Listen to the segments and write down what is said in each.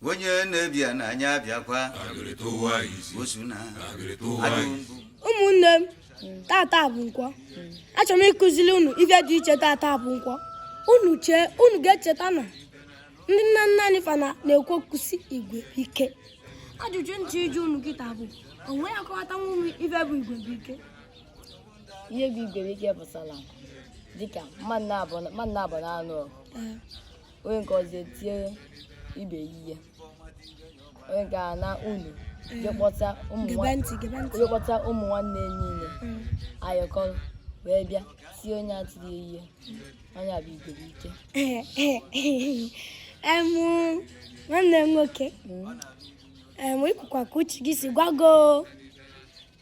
onye na-ebia na anyị abịakwa osu na adụmbụ ụmụnne m tata bụ nkwọ achọrọ m ịkụziri unu ife dị iche tata bụ nkwọ unu chee unu ga-echeta na ndị nna nna anyị fa na- na-ekwu okwu sị igwe ike ajụjụ m ji ajụ unu kịta bụ onye ya-akọwatanwuru m ife bụ igwe bụ ike ihe bụ igwe bụ ike pụtara dịka mmadụ naabọ na-anụ ọgụ onye nke ọzọ etie ibe ihe onye nke a anaa ụnọ je kpọta ụmụ nwanne niile ayọkọrọ wee bịa tie onye a tiri ihe Na ya bụ igwe bụ ike. Em nwanne m nwoke. Em i kwukwa ka uche gị si gwa gị o.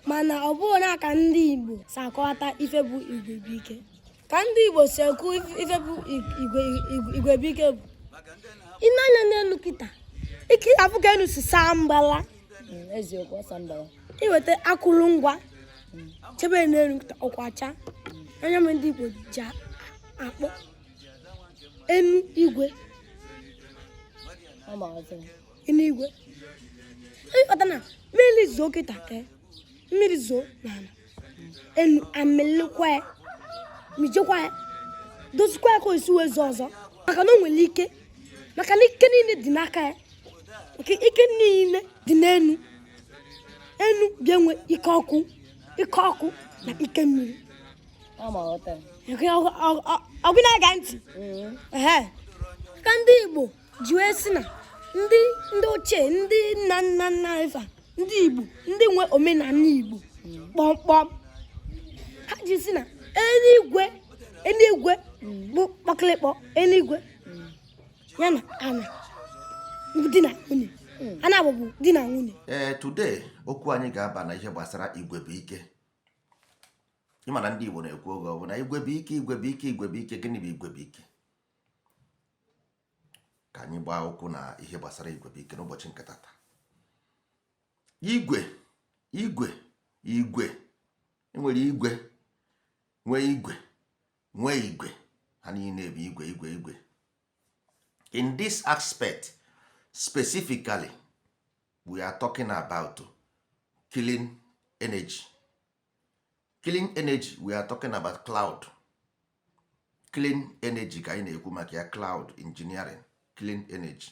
Mana ọ bụghị na ka ndị Igbo si akọwata ife bụ igwe bụ ike. Ka ndị Igbo si ekwu ife bụ igwe bụ ike bụ. I nee anya n'enu kịta. Ị ga-afụ ka enu si saa mbala. Eziokwu ọ saa mbala. Iweta akụrụngwa. chebe n'enu kịta ọkụ achaa nya mere ndị Igbo ji akpọ enu igwe enu igwe ị ghọta na mmiri zoo kịta e, mmiri zoo n'ala enu amịlịkwa ya mịjekwa ya dozikwa ya ka o si wee zoo ọzọ maka na o nwere ike maka na ike niile dị n'aka ya maka ike niile dị n'enu enu bịa nwee ike ọkụ ike ọkụ na ike mmiri ọ gị na-ege ntị mm-hmm. ka ndị Igbo ji wee sị na ndị ndị ochie ndị nna nna nna fa ndị Igbo ndị nwe omenala Igbo mm-hmm. kpọmkpọm ha ji sị na enu igwe enu igwe mm-hmm. bụ kpọkịlịkpọ enu igwe ya na ana di na nwunye hmm. ana bụ di na nwunye ee eh, today okwu anyị ga-aba na ihe gbasara igwe bụ ike ị ma na ndị Igbo na-ekwu oge ọbụla igwe bụ ike igwe bụ ike igwe bụ ike gịnị bụ igwe bụ ike ka anyị baa okwu na ihe gbasara igwe bụ ike n'ụbọchị nke tata igwe igwe igwe enwere igwe nwee igwe nwee igwe ha niile bụ igwe igwe igwe in this aspect specifically we are talking about clean energy clean energy we are talking about cloud clean energy ka anyị na-ekwu maka ya cloud engineering clean energy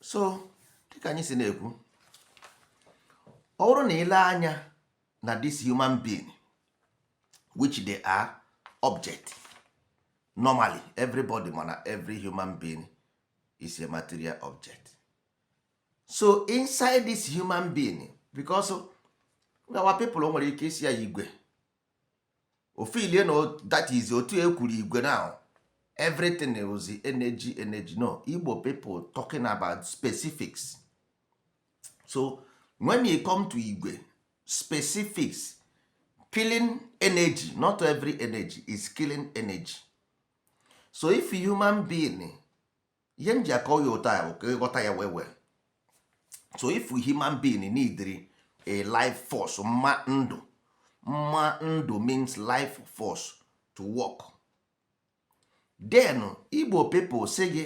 so dịka anyị si na-ekwu ọ bụrụ na i le anya na this human being which they are object normally everybody ma na every human being is a material object so inside this human being because our people nwere ike ịsị ya igwe ofilie na that is otu ekwuru igwe na everything was energy energy no igbo people talking about specifics so when you come to igwe specifics killing energy not every energy is killing energy so if human being ihe m ji akọ ya otu a bụ ka ị ghọta ya well well so if human being neediri a life force mma ndụ mma ndụ means life force to work then igbo people sị gị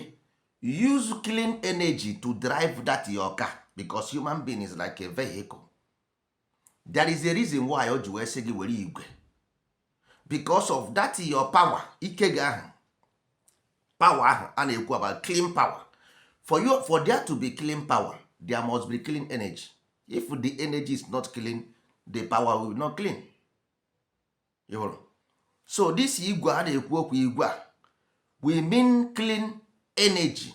use clean energy to drive that your car because human being is like a vehicle there is a reason why o ji wee sị gị were igwe because of that your power ike gị ahụ power ahụ a na-ekwu about clean power for you for there to be clean power there must be clean energy if the energy is not clean the power will not clean ịhụrụ so this igwe a na-ekwu okwu igwe a we mean clean energy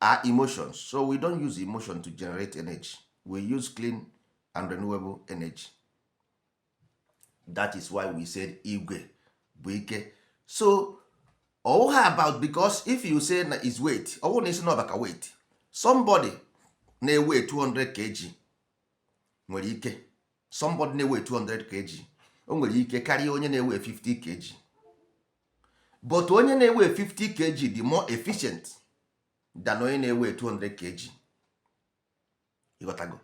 are emotions so we don't use emotion to generate energy we use clean and renewable energy that is why we said igwe bụ ike so ọ wụha about because if you say na is weight ọ wụ na ị sị na ọ bụ maka weight somebody na-eweigh 200 kg nwere ike somebody na-eweigh 200 kg o nwere ike karịa onye na-eweigh 50 kg but onye na-eweigh 50 kg dị more efficient than onye na-eweigh 200 kg ịghọtago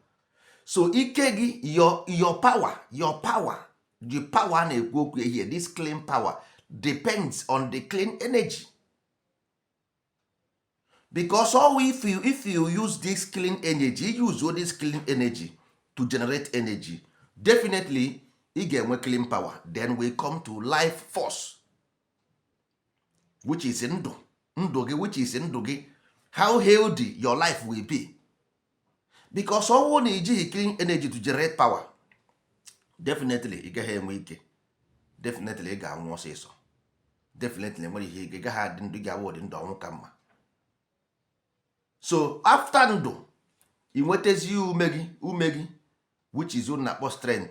so ike gị your your power your power the power na-ekwu okwu here this clean power depends on the clean energy because all if you, if you use this clean energy you use all this clean energy to generate energy definitely ị ga-enwe clean power then we come to life force which is ndụ ndụ gị which is ndụ gị how healthy your life will be because ọ wụ na i jighị clean energy to generate power definitely ị gaghị enwe ike definitely ị ga-anwụ ọsịsọ definitely enwere ihe ị gaghị adị ndụ ga-awụ ọdị ndụ ọnwụ ka mma so after ndụ ị nwetazi ume gị ume gị which is na-akpọ strength